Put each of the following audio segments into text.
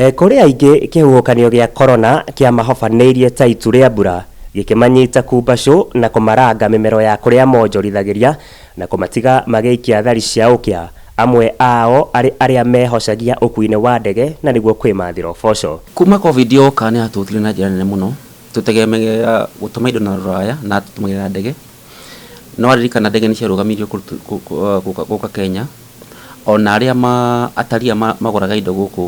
Eh, kũrĩ aingĩ kĩhuhũkanio gĩa korona kĩamahobanĩirie ta itu rĩa mbura gĩkĩmanyita kumbacũ na kũmaranga mĩmero ya kũrĩa monjorithagĩria na kũmatiga magĩikia thari cia ũkĩa, amwe ao arĩ arĩa mehocagia ũkuinĩ wa ndege na nĩguo kwĩmathĩra ũboco. Kuma Covid yoka nĩ yatũhutirie na njĩra nene mũno, tũtegemeaga gũtũma indo na rũraya na tũtũmagĩra ndege, Nĩwaririkana ndege nĩciarũgamirio kũrutu- kũ- kũ- ah, gũka gũka Kenya, o na arĩa ma ataria ma- magũraga indo gũkũ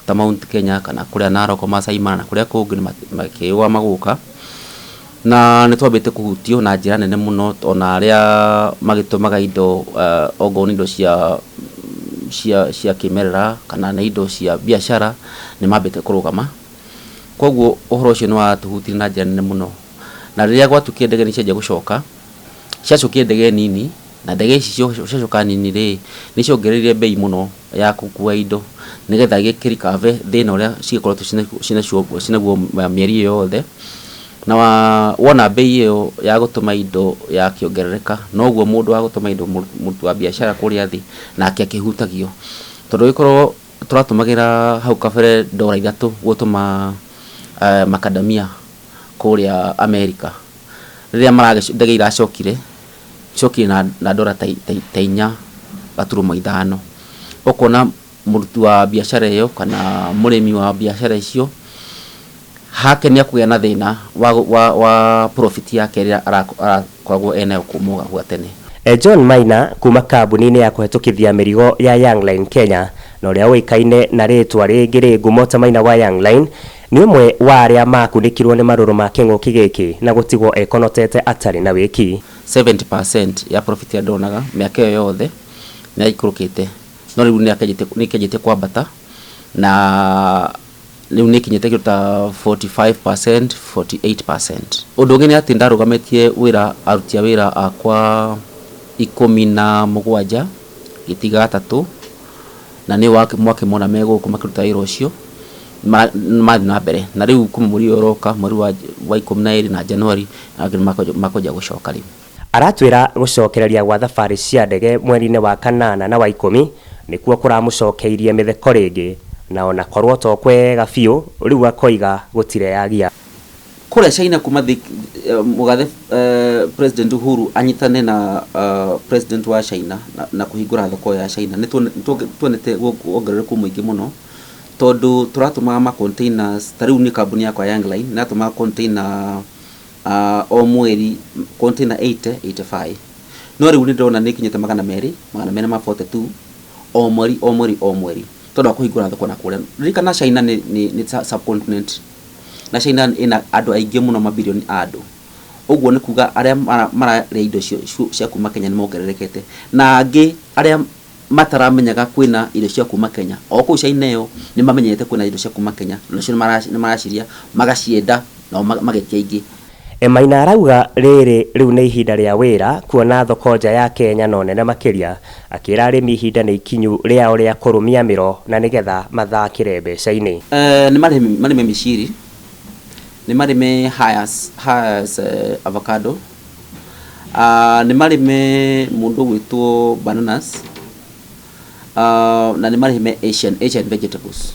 ta Mount Kenya kana kũrĩa Naroko, Maasai Mara na kũrĩa kũngĩ nĩma- makĩũa magũka, na nĩtwambĩte kũhutio na njĩra nene mũno o na arĩa magĩtũmaga indo ah, ongorwo nĩ indo cia cia cia kĩmerera kana nĩ indo cia biacara nĩmambĩte kũrũgama, kwoguo ũhoro ũcio nĩwatũhutirie na njĩra nene mũno. Na rĩrĩa gwatuĩkire ndege nĩ cianjia gũcoka, ciacokire ndege nini, na ndege ici cio- ciacoka nini rĩ, nĩ ciongereire mbei mũno ya gũkua indo, nĩgetha gĩkĩrikave thĩna ũrĩa cigĩkoretwo cina- cinacio- cinaguo mĩeri ĩyo yothe. Na wa- wona mbei ĩyo ya gũtũma indo yakĩongerereka, noguo mũndũ wa gũtũma indo mũ- mũruti wa biacara kũrĩa thĩ, nake akĩhutagio. Tondũ ũgĩkorwo tũratũmagĩra hau kabere ndora ithatũ gũtũma eh, makadamia kũrĩa Amerika, rĩrĩa maragĩco, ndege iracokire, ciokire na, na ndora ta, ta, ta inya gaturumo ithano. Ũkona mũruti wa biacara ĩyo kana mũrĩmi wa biacara icio hake nĩ akũgĩa na thĩna wa, wa, wa profit yake ĩrĩa Kwaguo ene o kuuma ũgakua tene. John Maina kuuma kambuni-inĩ ya kũhetũkithia mĩrigo ya Young Line Kenya na ũrĩa ũĩkaine na rĩĩtwa rĩngĩ rĩ ngumo ta Maina wa Young Line, nĩ ũmwe wa arĩa maakunĩkirũo nĩ marũrũ ma kĩng'ũki gĩkĩ na gũtigwo ekonotete atarĩ na wĩki. 70 per cent ya profit ĩrĩa ndonaga mĩaka ĩyo yothe nĩ yaikũrũkĩte, no rĩu nĩ ĩkĩanjĩtie kwambata na rĩu nĩ kinyĩte kĩndũ ta 45%, 48%. Ũndũ ũngĩ nĩ atĩ nĩ ndarũgamĩtie wĩra aruti a wĩra akwa ikũmi na mũgwanja ngĩtiga atatũ, na nĩ mwakĩmona me gũkũ makĩruta wĩra ũcio, marathiĩ na mbere. Na rĩu kuma mweri ũyũ ũroka, mweri wa ikũmi na ĩrĩ na January, nĩ makwanjia gũcoka rĩu. Aratwĩra gũcokereria gwa thabarĩ cia ndege mweri-inĩ wa kanana na wa ikũmi nĩkuo kũramũcokeirie mĩtheko rĩngĩ na ona korwo to kwega biũ rĩu akoiga gũtireyagia. Kũrĩa China kuma thĩ mũgathe President Uhuru anyitane na President wa China na kũhingũra thoko ya China nĩtuonete wongerereku mũingĩ mũno tondũ tũratũmaga ma containers, ta rĩu niĩ kambuni yakwa ya Young Line nĩratũmaga container Ah, o mweri container 80 85 no rĩu nĩ ndĩrona nĩ kinyĩte magana merĩ magana merĩ ma 42 o mweri o mweri o mweri tondũ wa kũhingũra thoko na kũrĩa ririkana China nĩ, nĩ, nĩ sa- subcontinent na China ĩna andũ aingĩ mũno mabilioni a andũ ũguo nĩ kuga arĩa mara- mararĩa indo cio- cio- cia kuma Kenya nĩ mongererekete na angĩ arĩa mataramenyaga kwĩna irio cia kuma Kenya, o kũu China ĩyo nĩmamenyerete kwĩna indo cia kuma Kenya na nĩcio nĩmaracirĩa, magacienda nao magetia ingĩ. Maina arauga rĩrĩ rĩu nĩ ihinda rĩa wĩra kuona thoko nja ya Kenya no nene makĩria, akĩra arĩmi ihinda nĩ ikinyu rĩao rĩa kũrũmia mĩro na nĩgetha mathakĩre mbeca-inĩ. Nĩmarĩme mĩciri, nĩmarĩme hayas, hayas avocado. Ah, nĩ marĩme mũndũ ũgwĩtwo bananas Ah, na nĩ marĩme asian asian vegetables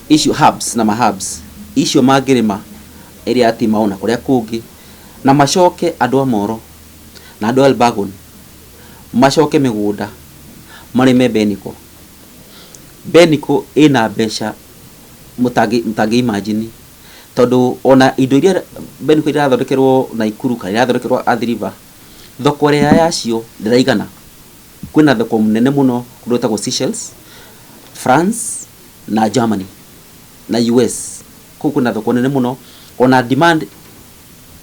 icio herbs na maherbs icio mangĩrĩma area ya timao na kũrĩa kũngĩ na macoke andũ a moro na andũ a elbagon macoke mĩgũnda marĩme beniko beniko ĩna mbeca mũtangĩ mũtangĩ imagine tondũ ona indo iria Ben Kuria irathondekerwo Naikuru kana irathondekerwo Athi River, thoko ĩrĩa yacio ndĩraigana. Kwĩna thoko nene mũno kũndũ gwĩtagwo Seychelles, France na Germany na US. Kũu kwĩna thoko nene mũno, ona demand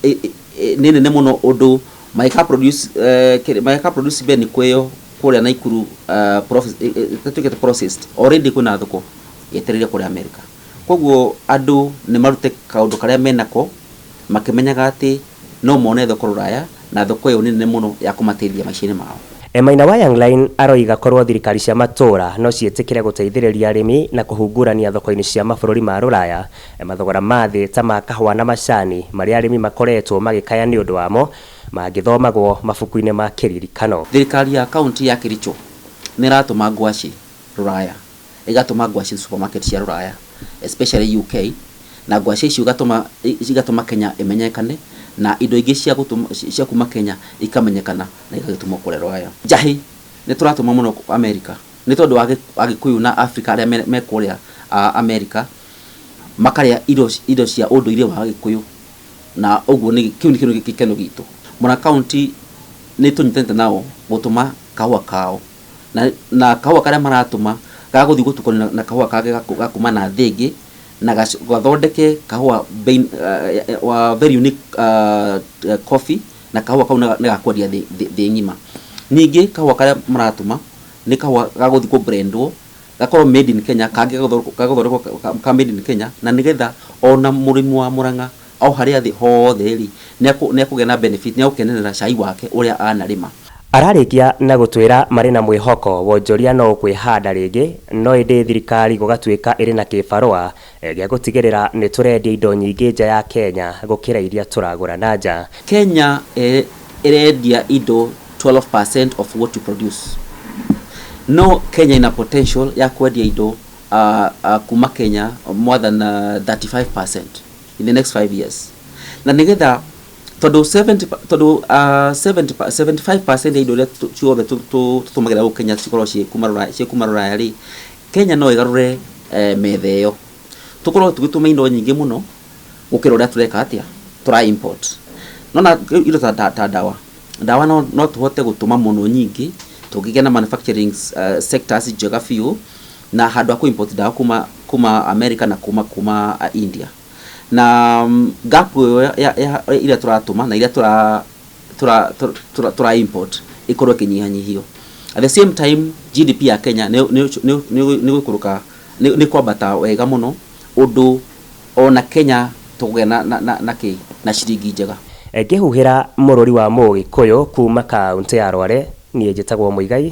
ĩ- ĩ- ĩ- nĩ nene mũno ũndũ mangĩka produce, eh, kĩrĩ- mangĩka produce Ben Kuria kũrĩa Naikuru ah, prof- ĩ- ĩ- ĩtuĩkĩte processed, already kwĩna thoko yetereire kũrĩa America. Kwoguo andũ nĩ marute kaũndũ karĩa me nako, makĩmenyaga atĩ no mone thoko rũraya, na thoko ĩyo nĩ nene mũno ya kũmateithia maica-inĩ mao. E Maina wa Young Line aroiga korwo thirikari cia matũũra no ciĩtĩkĩre gũteithĩrĩria arĩmi na kũhungurania thoko-inĩ cia mabũrũri ma rũraya, mathogora ma thĩ ta ma kahũa na macani marĩa arĩmi makoretwo magĩkaya nĩ ũndũ wamo, mangĩthomagwo mabuku-inĩ ma kĩririkano. Thirikari ya kauntĩ ya Kericho nĩ ĩratũma ngwacĩ rũraya. ĩgatũma ngwacĩ supermarket cia rũraya especially UK na ngwacĩ icio igatũma igatũma Kenya ĩmenyekane na indo ingĩ cia gũtũma cia kuma Kenya ikamenyekana na igagĩtumwo kũrĩa rũraya njahĩ nĩ tũratũma mũno America nĩ tondũ wa Agĩkũyũ na Africa arĩa me, me kũrĩa uh, America makarĩa indo, indo cia ũndũire wa Agĩkũyũ na ũguo nĩ kĩu nĩkĩo gĩkeno gitũ Mũra County nĩ tũnyitanĩte nao gũtũma kahũa kao na, na kahũa karĩa maratũma gagũthiĩ gũtukanio na, na kahũa kangĩ gaku- gakuma na thĩ ĩngĩ na gac- gathondeke kahũa bein, uh, wa very unique uh, coffee na kahũa kau nĩ ga kwendia thĩ, thĩ, thĩ ng'ima ningĩ kahũa karĩa maratũma nĩ kahũa gagũthiĩ kũ blendwo gakorwo made in Kenya kangĩ gagũthondekwo- gagũthondekwo ka- ka made in Kenya na nĩgetha ona mũrĩmi wa Mũrang'a o harĩa thĩ hothe-rĩ, nĩekũ, nĩekũgĩa na benefit, nĩegũkenerera cai wake ũrĩa anarĩma. Ararĩkia na gũtwĩra marĩ na mwĩhoko wonjoria no ũkwĩhanda rĩngĩ, no ĩndĩ thirikari gũgatuĩka ĩrĩ na kĩbarũa gĩa gũtigĩrĩra nĩ tũrendia indo nyingĩ nja ya Kenya gũkĩra iria tũragũra na nja. Kenya ĩrendia indo 12 per cent of what we produce, no Kenya ĩna potential ya kwendia indo, aah, aah, kuma Kenya more than 35 per cent. in the next 5 years na nigetha tondå 70 pa- tondå uh, 70 pa- 75% ya indo iria tu- ciothe tu- tu- tutũmagĩra gũkũ kenya cikorwo ciĩ kuma Rũraya- ciĩ kuma rũraya rĩ kenya no ĩgarũre eh, metha ĩyo tũkorwo tũgĩtũma indo nyingĩ mũno gũkĩra ũrĩa tũreka atĩa tũra import nona rĩu indo ta, ta, ta ndawa ndawa no, no tũhote gũtũma mũno nyingĩ tũngĩgĩa na manufacturing uh, sectors njega biũ na handũ ha kũ import ndawa kuma kuma America na kuma kuma uh, India na mm, gap ĩyo ya- ya- ya- iria tũratũma na iria tũra tũra tũra- tũra tũra import ĩkorwo ĩkĩnyihanyihio at the same time GDP ya Kenya nĩ nĩ- nĩ- nĩ- nĩ gũikũrũka nĩ nĩ kwambata wega mũno ũndũ ona Kenya tũkũgĩa na na na- na kĩ na ciringi njega Ngĩhuhĩra mũrũri wa Mũgĩkũyũ kuuma kaũntĩ ya Rware, niĩ njĩtagwo Mũigai